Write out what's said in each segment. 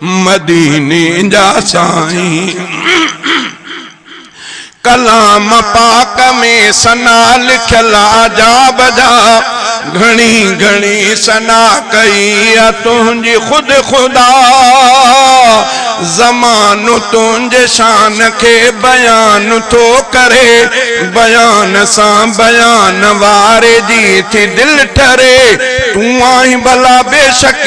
مديني جا سائين ڪلام پاڪ ۾ ثنا لکيل عجاب جا گهڻي گهڻي ثنا ڪئي آ تنهنجي خود خدا زمانو تنهنجي شان کي بيان ٿو ڪري بيان سان بيان واري جي ٿي دل ٺري تون آهين ڀلا بيشڪ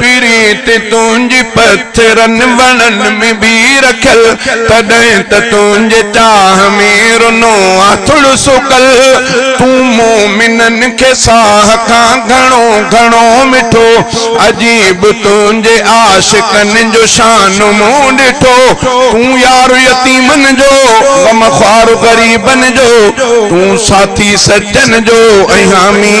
پريت تنهنجي پٿرن وڻن ۾ به رکيل، تڏهن ته تنهنجي چاهه ۾ رنو آٿڙ سڪل. تون مومنن کي ساهه کان گهڻو گهڻو مٺو، عجيب تنهنجي عاشقن جو شان مون ڏٺو. تون يار يتيمن جو، غمخوار غريبن جو، تون ساٿي سچن جو ۽ حامي.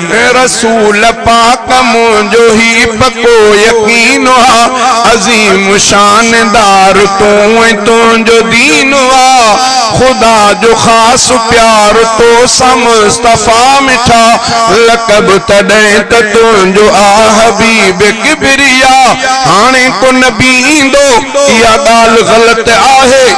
رسول پاڪ منهنجو هي پڪو يقين آ عظيم شان دار تون ۽ تنهنجو دين آ خدا جو خاص پيار تو سان مصطفيٰ مٺا لقب تڏهن ته تنهنجو آ حبيب ڪبريا هاڻي ڪو نبي ايندو اها ڳالهه غلط آهي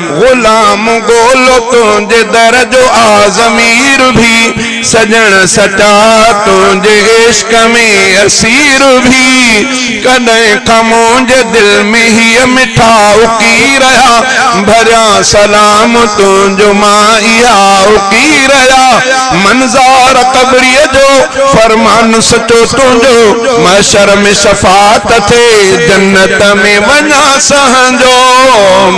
غلام گولو تنهنجي در جو آ ضمير ڀي سڄڻ سچا تنهنجي عشق ۾ اسير ڀي ڪڏهن کان منهنجي دل ۾ هي مٺا اڪي رهيا ڀريان سلام تنهنجو مان اها اڪي رهيا منظار قبريء جو فرمان سچو تنهنجو محشر ۾ شفاعت ٿئي جنت ۾ وڃان سهنجو